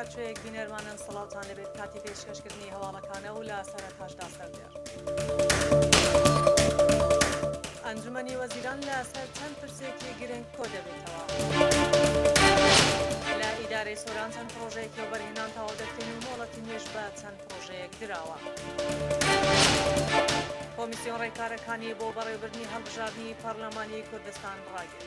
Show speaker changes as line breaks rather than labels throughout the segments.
هەرچەیەک بینەرمانن سەڵاتان لەبێت کاتی پێشکەشکردنی هەواڵەکانە و لە سەرەتاشدا سەردێر. ئەنجومەنی وەزیران لە سەر چەند پرسێکی گرنگ کۆ دەبێتەوە. لە ئیدارەی سۆران چەند پرۆژەیەکی و بەرهێنان تەواو دەکرێن و مۆڵەتی نوێژ بە چەند پڕۆژەیەک دراوە. کۆمیسیۆن ڕێکارەکانی بۆ بەڕێوبردنی هەڵبژاردنی پەرلەمانی کوردستان ڕاگرت.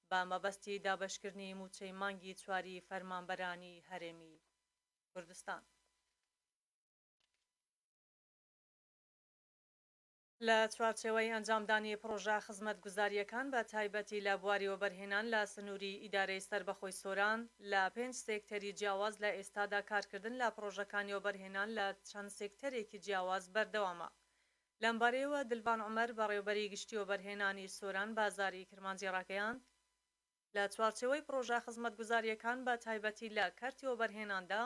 بە مەبەستی دابەشکردنی مووچەی مانگی چواری فەرمانبەرانی هەرێمی کوردستان. لە چوارچێوەی ئەنجامدانی پڕۆژە خزمەتگوزارییەکان بە تایبەتی لە بواری وەبەرهێنان لە سنووری ئیدارەی سەربەخۆی سۆران لە پێنج سێکتەری جیاواز لە ئێستادا کارکردن لە پڕۆژەکانی وەبەرهێنان لە چەند سێکتەرێکی جیاواز بەردەوامە لەمبارەیەوە دلڤان عومەر بەڕێوبەری گشتی وەبەرهێنانی سۆران بازاری کرمانجی ڕاگەیاند، لە چوارچێوەی پڕۆژە خزمەتگوزارییەکان بە تایبەتی لە کەرتی وەبەرهێناندا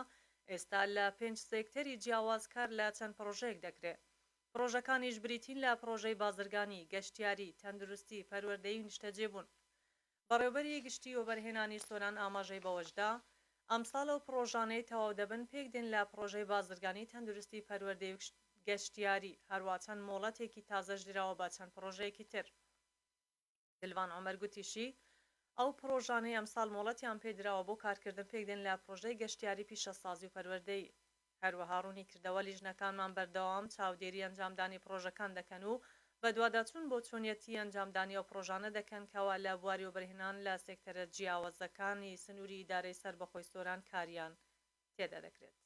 ئێستا لە پێنج سێکتەری جیاواز کار لە چەند پڕۆژەیەک دەکرێ پڕۆژەکانیش بریتین لە پڕۆژەی بازرگانی، گەشتیاری، تەندروستی، پەروەردەی و نیشتەجێبوون بەڕێوبەری گشتی وەبەرهێنانی سۆران ئاماژەی بەوەشدا، ئەمساڵ ئەو پڕۆژانەی تەواو دەبن پێکدێن لە پڕۆژەی بازرگانی، تەندروستی، پەروەردەی و گەشتیاری، هەروا چەند مۆڵەتێکی تازەش دراوە بە چەند پڕۆژەیەکی تر. دلوان عومەر گوتیشی، ئەو پڕۆژانەی ئەمساڵ مۆڵەتیان پێدراوە بۆ کارکردن پێکدێن لە پڕۆژەی گەشتیاری، پیشەسازی و پەروەردەیی. هەروەها ڕوونیکردەوە لیژنەکانمان بەردەوام چاودێری ئەنجامدانی پڕۆژەکان دەکەن و بەدواداچوون بۆ چۆنیەتی ئەنجامدانی ئەو پڕۆژانە دەکەن کەوا لە بواری وەبەرهێنان لە سێکتەرە جیاوەزەکانی سنوری ئیدارەی سەربەخۆی سۆران کاریان تێدادەکرێت.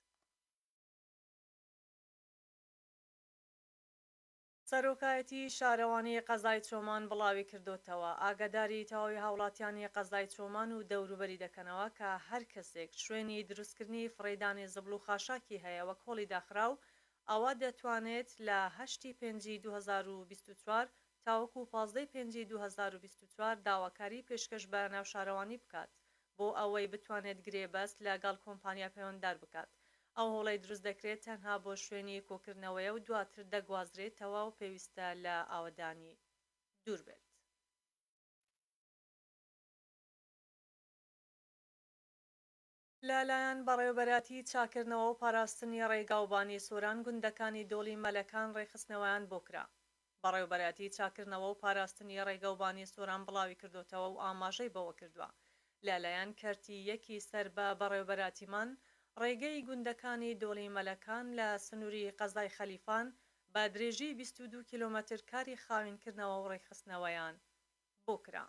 سەرۆکایەتی شارەوانی قەزای چۆمان بڵاویکردۆتەوە، ئاگاداری تەواوی هاوڵاتیانی قەزای چۆمان و دەوروبەری دەکەنەوە کە هەر کەسێک شوێنی دروستکردنی فڕێدانی زبڵ و خاشاکی هەیە وەک هۆڵی داخراو ئەوا دەتوانێت لە هەشت ی پێنج ی دوو هەزار و بیست و چوار تاوەکو پازدە ی پێنج ی دوو هەزار و بیست و چوار داواکاری پێشکەش بە ناوشارەوانی بکات بۆ ئەوەی بتوانێت گرێبەست لە گەڵ کۆمپانیا پەیوەنددار بکات. ئەو هۆڵەی دروست دەکرێت تەنها بۆ شوێنی کۆکردنەوەیە و دواتر دەگوازرێتەوە و پێویستە لە ئاوەدانی دوور بێت. لە لایەن بەڕێوەبەرایەتی چاککردنەوە و پاراستنی ڕێگا و بانی سۆران گوندەکانی دۆڵی مەلەکان ڕێکخستنەوەیان بۆ کرا. بەڕێوبەرایەتی چاککردنەوە و پاراستنی ڕێگەوبانی سۆران بڵاویکردۆتەوە و ئاماژەی بەوەکردوە، لە لایەن کەرتی یەکی سەر بە بەڕێوبەرایەتیمان ڕێگەی گوندەکانی دۆڵی مەلەکان لە سنوری قەزای خەلیفان بە درێژی بیست و دوو کیلۆمەتر کاری خاوینکردنەوە و ڕێکخستنەوەیان بۆ کرا.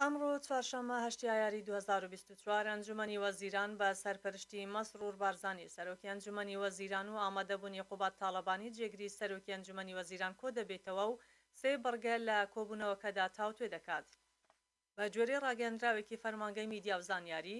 ئەمڕۆ چوارشەممە هەشت ئایاری دوو هەزار و بیست و چوار ئەنجومەنی وەزیران بە سەرپەرشتی مەسرور بارزانی سەرۆکی ئەنجومەنی وەزیران و ئامادەبوونی قوباد تاڵەبانی جێگری سەرۆکی ئەنجومەنی وەزیران کۆدەبێتەوە و سێ بڕگە لە کۆبوونەوەکەدا تاوتوێ دەکات. بە گوێرەی ڕاگەیەندراوێکی فەرمانگەی میدیا و زانیاری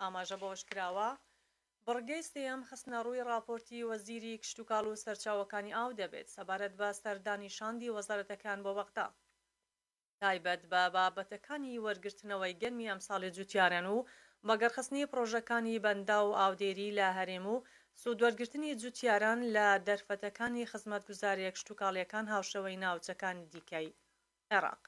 ئاماژە بەوەشکراوە، بڕگەی سێیەم خستنەڕووی ڕاپۆرتی وەزیری کشتوکاڵ و سەرچاوەکانی ئاو دەبێت سەبارەت بە سەردانی شاندی وەزارەتەکان بۆ بەغدا تایبەت بە بابەتەکانی وەرگرتنەوەی گەنمی ئەمساڵی جوتیاران و بەگەڕخستنی پڕۆژەکانی بەنداو و ئاودێری لە هەرێم و سوودوەرگرتنی جوتیاران لە دەرفەتەکانی خزمەتگوزارییە کشتوکاڵییەکان هاوشێوەی ناوچەکانی دیکەی عێراق.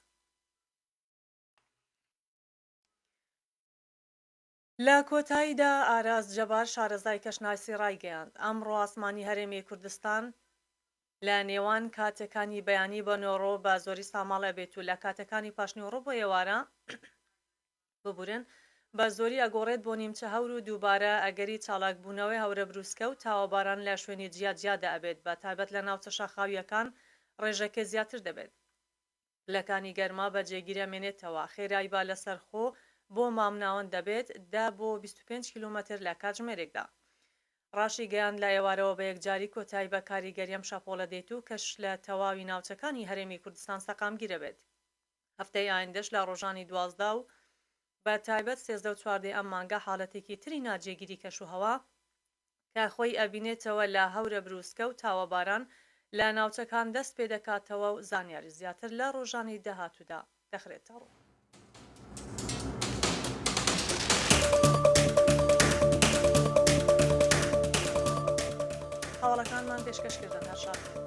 لە کۆتاییدا ئاراس جەبار شارەزای کەشناسی ڕایگەیاند، ئەمڕۆ ئاسمانی هەرێمی کوردستان لە نێوان کاتەکانی بەیانی بە نۆڕۆ بە زۆری ساماڵ ئەبێت و لە کاتەکانی پاشنیووڕۆ بۆ ئێوارە ببورن بە زۆری ئەگۆڕێت بۆ نیمچە هەور و دووبارە ئەگەری چالاکبوونەوەی هەورە بروسکە و تاوەباران لە شوێنی جیاجیادا ئەبێت بە تایبەت لە ناوچە شاخاوییەکان ڕێژەکە زیاتر دەبێت. لەکانی گەرما بە جێگیرە مێنێتەوە، خێرای با لەسەر خۆ بۆ مامناوەند دەبێت دە بۆ بیست و پێنج کیلۆمەتر لە کاتژمێرێکدا. ڕاشیگەیاند لە ئێوارەوە بە یەکجاری کۆتایی بە کاریگەری ئەم شەپۆڵە دێت و کەش لە تەواوی ناوچەکانی هەرێمی کوردستان سەقامگیر ئەبێت هەفتەی ئایندەش لە ڕۆژانی دوازدە و بە تایبەت سێزدە و چواردە ی ئەم مانگە حاڵەتێکی تری ناجێگیری کەشوهەوا کە خۆی ئەبینێتەوە لە هەورە بروسکە و تاوەباران لە ناوچەکان دەست پێدەکاتەوە و زانیاری زیاتر لە ڕۆژانی داهاتوودا دەخرێتەڕوو. هەواڵەکانمان پێشکەش کردن هەر شاد بن.